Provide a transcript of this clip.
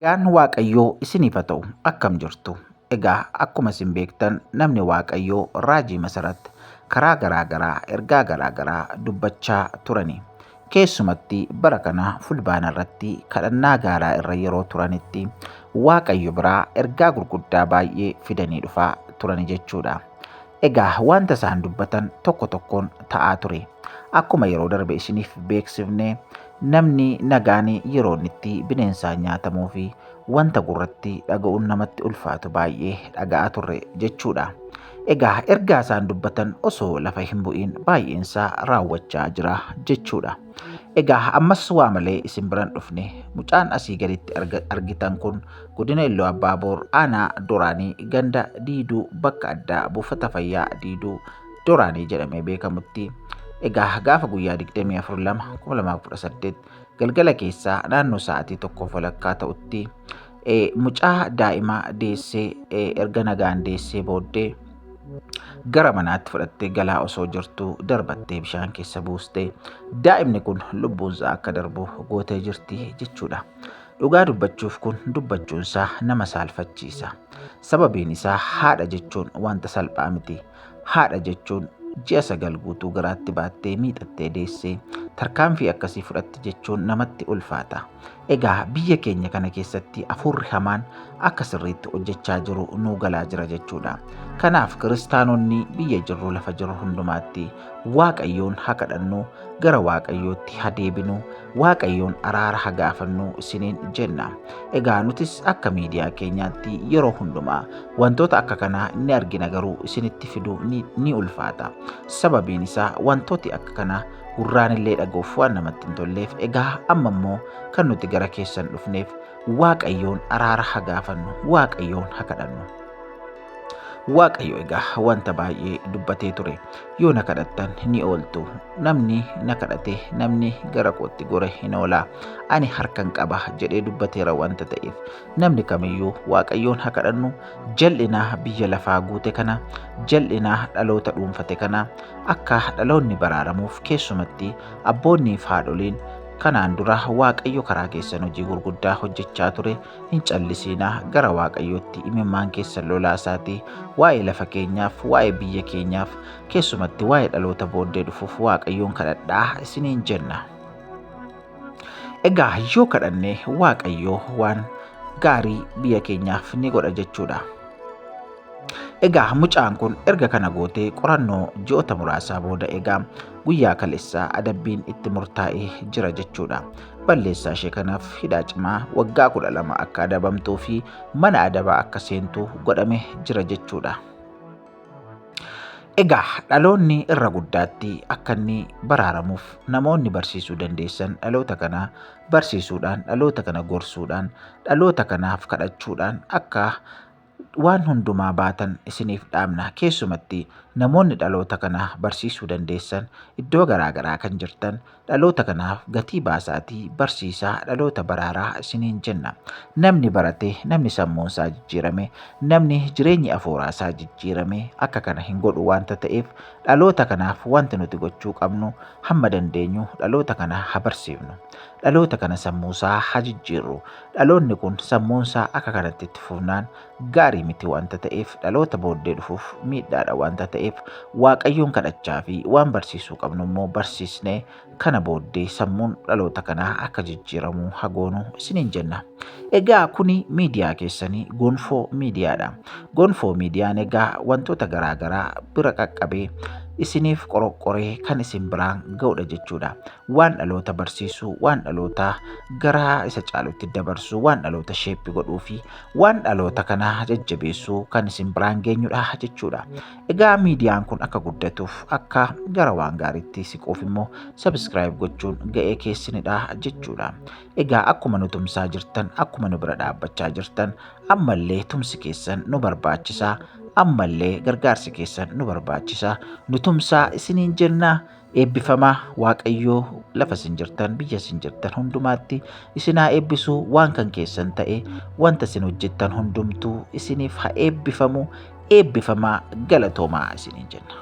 Nagaan Waaqayyoo isiniif haa ta'u akkam jirtu? Egaa akkuma isin beektan namni Waaqayyoo raajii masarat karaa garaa garaa ergaa garaa garaa dubbachaa turani. Keessumatti bara kana fulbaana irratti kadhannaa gaaraa irra yeroo turanitti Waaqayyo biraa ergaa gurguddaa baay'ee fidanii dhufaa turani jechuudha. Egaa wanta isaan dubbatan tokko tokkoon ta'aa ture. Akkuma yeroo darbe isiniif beeksifne namni nagaan yeroo inni itti bineensaan nyaatamuu fi wanta gurratti dhaga'uun namatti ulfaatu baay'ee dhaga'aa turre jechuudha. Egaa ergaa isaan dubbatan osoo lafa hin bu'iin baay'eensaa raawwachaa jira jechuudha. Egaa ammas waa malee isin biran dhufne mucaan asii gaditti argitan kun godina Illoo Abbaa Boor aanaa Doraanii ganda Diiduu bakka addaa buufata fayyaa Diiduu Doraanii jedhamee beekamutti egaa gaafa guyyaa 24/2/2018 galgala keessaa naannoo sa'aatii tokkoof walakkaa ta'utti mucaa daa'imaa deessee erga nagaan deessee booddee gara manaatti fudhattee galaa osoo jirtuu darbattee bishaan keessa buustee daa'imni kun lubbuunsaa akka darbu gootee jirti jechuudha. Dhugaa dubbachuuf kun dubbachuunsaa nama saalfachiisa. Sababiin isaa haadha jechuun wanta salphaa miti. Haadha jechuun ji'a sagal guutuu garaatti baattee miixattee deessee tarkaanfii akkasii fudhatti jechuun namatti ulfaata. Egaa biyya keenya kana keessatti afuurri hamaan akka sirriitti hojjechaa jiru nuu galaa jira jechuudha. Kanaaf kiristaanonni biyya jirru lafa jirru hundumaatti waaqayyoon haa kadhannuu gara waaqayyootti ha deebinu waaqayyoon araara ha gaafannu isiniin jenna egaa nutis akka miidiyaa keenyaatti yeroo hundumaa wantoota akka kanaa ni argina garuu isinitti fiduu ni, ni ulfaata sababiin isaa wantooti akka kanaa gurraan illee dhaguuf waan namatti hin tolleef egaa amma immoo kan nuti gara keessan dhufneef waaqayyoon araara ha gaafannu waaqayyoon ha kadhannu Waaqayyo egaa wanta baay'ee dubbatee ture. Yoo na kadhattan ni ooltu. Namni na kadhate, namni gara kootti gore hin oola. Ani harkan qaba jedhee dubbateera wanta ta'eef. Namni kamiyyuu Waaqayyoon haa kadhannu jal'inaa biyya lafaa guute kana, jal'inaa dhaloota dhuunfate kana akka dhaloonni baraaramuuf keessumatti abboonnii fi haadholiin kanaan dura Waaqayyo karaa keessan hojii gurguddaa hojjechaa ture Hin callisiinaa gara Waaqayyootti imimmaan keessan lolaasaatii waa'ee lafa keenyaaf, waa'ee biyya keenyaaf, keessumatti waa'ee dhaloota booddee dhufuuf Waaqayyoon kadhadhaa isiniin jenna. Egaa yoo kadhanne Waaqayyoo waan gaarii biyya keenyaaf ni godha jechuudha. Egaa mucaan kun erga kana gootee qorannoo ji'oota muraasaa booda egaa guyyaa kaleessaa adabbiin itti murtaa'ee jira jechuudha. balleessaa ishee kanaaf hidhaa cimaa waggaa 12 akka adabamtuu fi mana adabaa akka seentu godhame jira jechuudha. Egaa dhaloonni irra guddaatti akka inni baraaramuuf namoonni barsiisuu dandeessan dhaloota kana barsiisuudhaan dhaloota kana gorsuudhaan dhaloota kanaaf kadhachuudhaan akka waan hundumaa baatan isiniif dhaamna. Keessumatti namoonni dhaloota kana barsiisuu dandeessan iddoo garaa garaa kan jirtan dhaloota kanaaf gatii baasaatii barsiisaa dhaloota baraaraa isiniin jenna. Namni barate, namni sammuun isaa jijjiirame, namni jireenyi afuuraa isaa jijjiirame akka kana hin godhu waanta ta'eef dhaloota kanaaf wanti nuti gochuu qabnu hamma dandeenyu dhaloota kana ha barsiifnu. Dhaloota kana sammuu isaa ha jijjiirru. Dhaloonni kun sammuunsaa akka kanatti itti fufnaan gaarii miti wanta ta'eef dhaloota booddee dhufuuf miidhaadha wanta ta'eef waaqayyoon kadhachaa fi waan barsiisuu qabnu immoo barsiisnee kana booddee sammuun dhaloota kanaa akka jijjiiramu hagoonu isiniin jenna. Egaa kuni miidiyaa keessanii gonfoo miidiyaadha. Gonfoo miidiyaan egaa wantoota garaagaraa bira qaqqabee isiniif qoroqqoree kan isin biraan ga'udha jechuudha. waan dhaloota barsiisu, waan dhaloota garaa isa caalutti dabarsu, waan dhaloota sheeppi godhuu fi waan dhaloota kana jajjabeessu kan isin biraan geenyudha jechuudha. Egaa miidiyaan kun akka guddatuuf akka gara waan gaariitti siquuf immoo sabiskiraayib gochuun ga'ee keessanidha jechuudha. Egaa akkuma nu tumsaa jirtan, akkuma nu bira dhaabbachaa jirtan, ammallee tumsi keessan nu barbaachisa. Ammallee gargaarsi keessan nu barbaachisa. Nu tumsaa isiniin jennaa. Eebbifamaa Waaqayyoo lafa isin jirtan biyya isin jirtan hundumaatti isin haa eebbisu waan kan keessan ta'e wanta isin hojjettan hundumtuu isiniif haa eebbifamu eebbifamaa galatoomaa isiniin jenna.